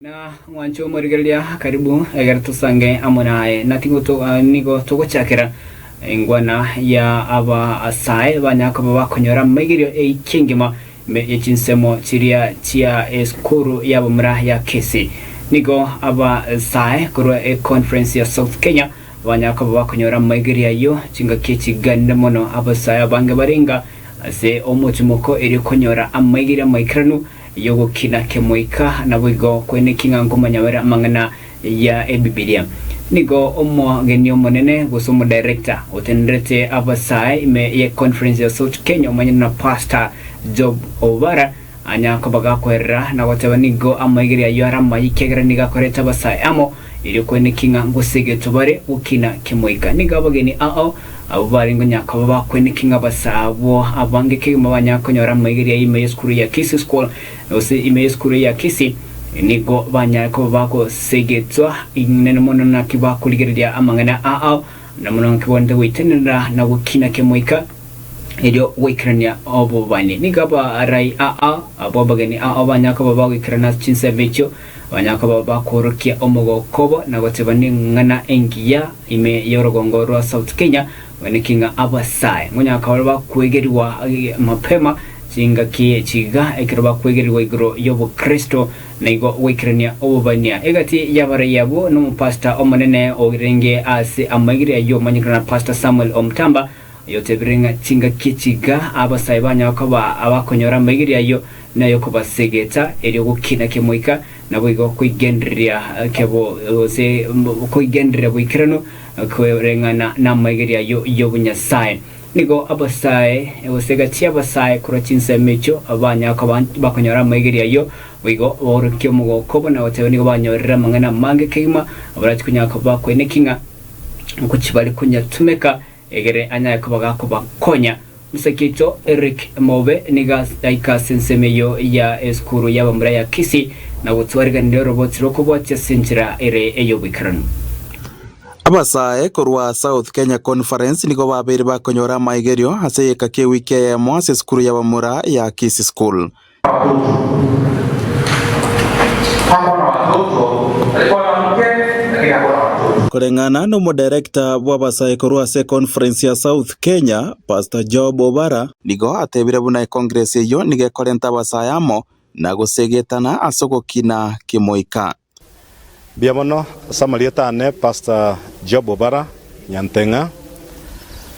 Na mwanche omorigereria karibu egere tosange amo naye, na nigo togochakera engwana ya abasae banya koba bakonyora amaigerio eiki engima ime ye chinsemo chiria chia esukuru y'abamura ya Kisii. Nigo abasae korwa econference ya South Kenya banya koba bakonyora amaigerio ayio chingaki echiganire mono abasae abange barenga ase omochomoko erio konyora amaigerio amaikeranu y'ogokina kemoika, naboigo kweneki ng'a nkomonyabera amang'ana ya Ebibilia. Nigo omogeni omonene, gose omodirector, otenerete abasae ime ye Conference ya South Kenya omanyete na Pastor Job Obara anya kobagakoerera na goteba nigo amaigere ayio are amaye ekiagera nigo akorete abasae amo erio kweneki ng'a gose egetobare gokina kemoika. Nigo abageni ao Abwo bare nkonyakoba bakweneke ng'a base abwo abange kegima banyare konyora amaigeria y'ime y'esukuru ya Kisii School gose ime y'esukuru ya Kisii, nigo banyare koba bagosegetwa inene mono naki bakorigereria amang'ana ao, na mono naki barente goitenerera na gokina kemoika, erio goikerania obobani. Nigo abarai ao, abwo abageni ao banyare koba bagoikerana ase chinsemo echio, Onye koba bakoorokia omogoko obo na goteeba neng'ana engiya ime y'orogongo rwa South Kenya, gweniki ng'a abasae ngonyakabare bakwegerigwa mapema chingaki chiga ekero bakwegerigwa igoro y'obokristo na igo goikerania obobania egati y'abarei abwo nomopastor omonene orenge ase amaigiria y'omonyikano Pastor Samuel Omutamba Oyotebire ng'a chingaki echi iga abasae banyara koba abakonyora amaigerio ayio, nay'okobasegeta, erio gokina kemoika, naboigo koigendereria kebo, gose koigendereria boikeranu koreng'ana namaigerio ayio y'obonyasae. Nigo abasae, gose egati y'abasae korwa chinsemo echio, banyara koba bakonyora amaigerio ayio, boigo baorokie omogoko obo nagoteba nigo banyorire amang'ana amange kegima, abarachikonyara koba bakoineki ng'a ngochi bare konyatumeka, egere anyare koba gakobakonya. Omosakeito Eric Mobe nigo agaika ase ensemo eyio ya esukuru y'abamura ya Kisii na gotwariganera oroboti rw'okobwatia ase enchera ere ey'oboikeranu. Abasae korwa South Kenya Conference nigo babeire bakonyora amaigerio ase egeka ki'ewiki eyemo ase esukuru y'abamura ya Kisii School. Abakungu bakwana abatoto, aye kwana moke, lakini akwana abatoto. Koreng'ana n'omoderekta bw'abasae korwa ase Conference ya South Kenya, Pastor Job Obara, nigo atebire buna ekongresi eyio nigo ekorenta abasae amo na gosegetana ase ogokina kemoika. Mbuya mono ase amarieta aane Pastor Job Obara Nyanteng'a,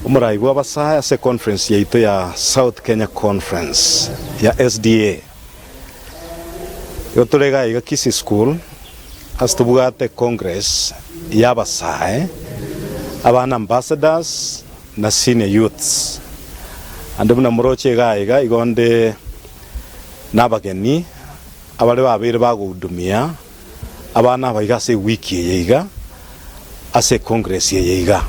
omoraai bw'abasae ase econference yaito ya South Kenya Conference ya SDA. Igo tore iga iga Kisii School ase tobwate congress y'abasae, abana ambassadors na senior youths. Naende buna moroche iga iga igo nde nabageni Abare babeire bagohudumia abana aba iga ase ewiki eye iga ase ekongresi eye iga.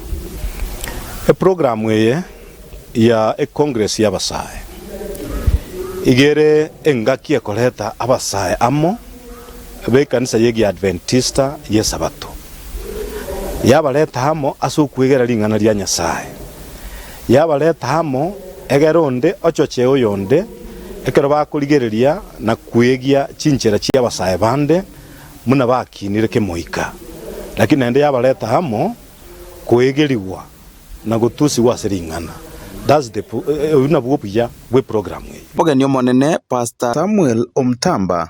Eprogramu eye ya ekongresi y'abasae iga ere engaki ekoreta abasae amo b'ekanisa y'Egiadventista y'Esabato, yabareta amo ase okwegera ring'ana ria Nyasae. Yabareta amo, egera onde ochoche oyonde, ekero bakorigereria na kwegia chinchera chi'abasae bande, buna bakinire kemoika. Lakini naende yabareta amo kwegerigwa na gotusigwa ase ring'ana. That's the pro- eh, eh, oyio nabwo obuya bw'eprogramu eye. Mogeni omonene Pastor Samuel Omutamba.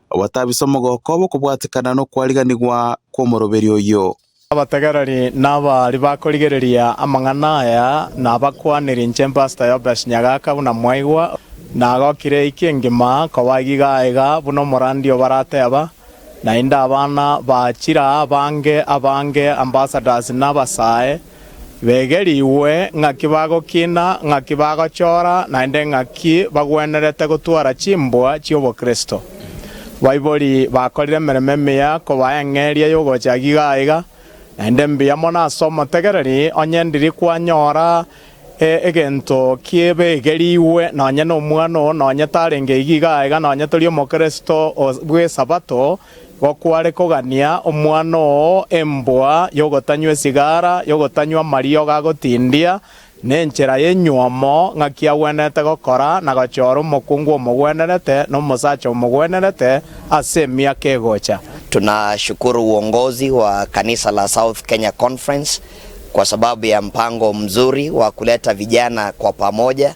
obatabise omogoko bw'okobwatekana nokwariganigwa kw'omoroberi oyio. Abategereri nabaria bakorigereria amang'ana aya nabakwanire inche Pastor Yobes Nyagaka buna mwaigwa, nagokire eiki engima koba egiga aiga buna omorandi obarateba, naende abana ba chiraa abange abange ambassadors na abasae, Begerigwe ng'aki bagokina, ng'aki bagochora, naende ng'aki bagwenerete gotwara chimbwa chi'obokristo. Baibori bakorire emeremo emiya kobaa eng'eria y'ogochaki iga aiga, naende mbuya mono ase omotegereri onye endiri kwanyora egento ki'ebegerigwe nonye nomwana oo nonye tarenge iga iga aiga nonye tori omokristo bw'Esabato, Gokware kogania omwana oo embwa y'ogotanywa esigara, y'ogotanywa amariogo agotindia, nenchera y'enywomo, ng'aki agwenerete gokora na gochora omokungu omogwenerete na omosacha omogwenerete ase emiaka egocha. Tunashukuru uongozi wa kanisa la South Kenya Conference kwa sababu ya mpango mzuri wa kuleta vijana kwa pamoja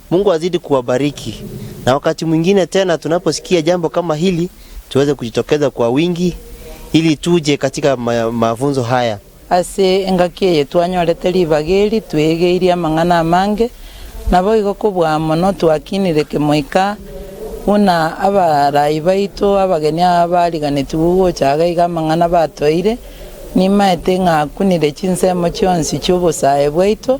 Mungu azidi kuwabariki na wakati mwingine tena tunaposikia jambo kama hili tuweze kujitokeza kwa wingi ili tuje katika mafunzo haya. Ase engaki eye twanyorete ribaga eri, twegeirie amang'ana amange, naboigo kobua mono twakinire kemoika buna abarai baito abageni aba bariganetigwe gocha agaiga amang'ana batoire. Nimaete ng'a akunire chinsemo chionsi chi'obosae bwaito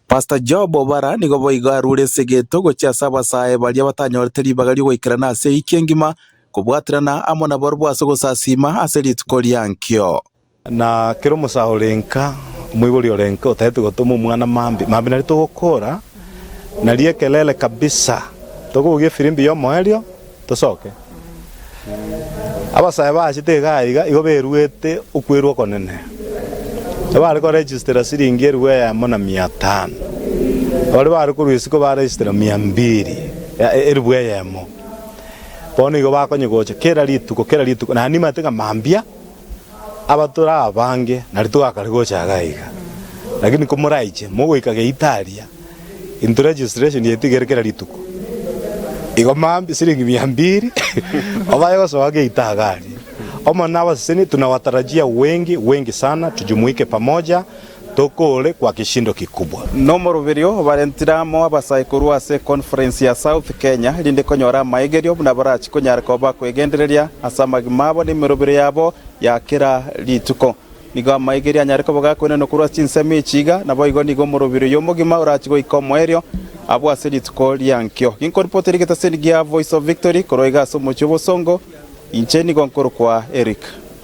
Pastor Job Obara nigo boigo arure esegeto gochia ase abasaae baria batanyorete ribaga ri'ogoikerana ase ewiki engima kobwaterana amo nabarabwo ase ogosasiima ase rituko riankio. Na kera omosao ore nka, omoibori ore nka, otaete gotoma omwana mambia mambia naria togokora naria ekerere kabisa. Tokobugia efirimbi y'omoerio. Tosoke. Abasae baachete iga na iga igo beruete okwerwa okonene. Ebare koregistera siringi eribu eyemo na mia tano. Abare bare korwa isiko baregistera mia mbiri, ya e- eribu eyemo. Bono igo bakonye gocha kera rituko kera rituko, na nimanyete ng'a mambia. Abatura abange nari togakare gocha iga aiga, lakini komoraiche mogoika Geitalia, into registration yaito igere kera rituko, igo mambia siringi mia mbiri obaye gosoa geita iga aria. Omonene abasesenie, tunawatarajia wengi, wengi sana, tujumuike pamoja. Tokore kwa kishindo kikubwa. Nomoroberio obarentire amo abasaikuru ase econference ya South Kenya rinde konyora amaegerio buna barachi konyara koba bakwegendereria ase amagima abo nemerobero yabo ya kera rituko. Nigo amaegerio anyare koba gakoinanwa korwa ase chinsemo echi iga, naboigo nigo omoroberio oyo omogima orachi goika omoerio abwo ase rituko riankio. Ginkoripoti ere getaseni gia Voice of Victory korwa iga ase omochie obosongo, inche nigo nkorokwa Eric.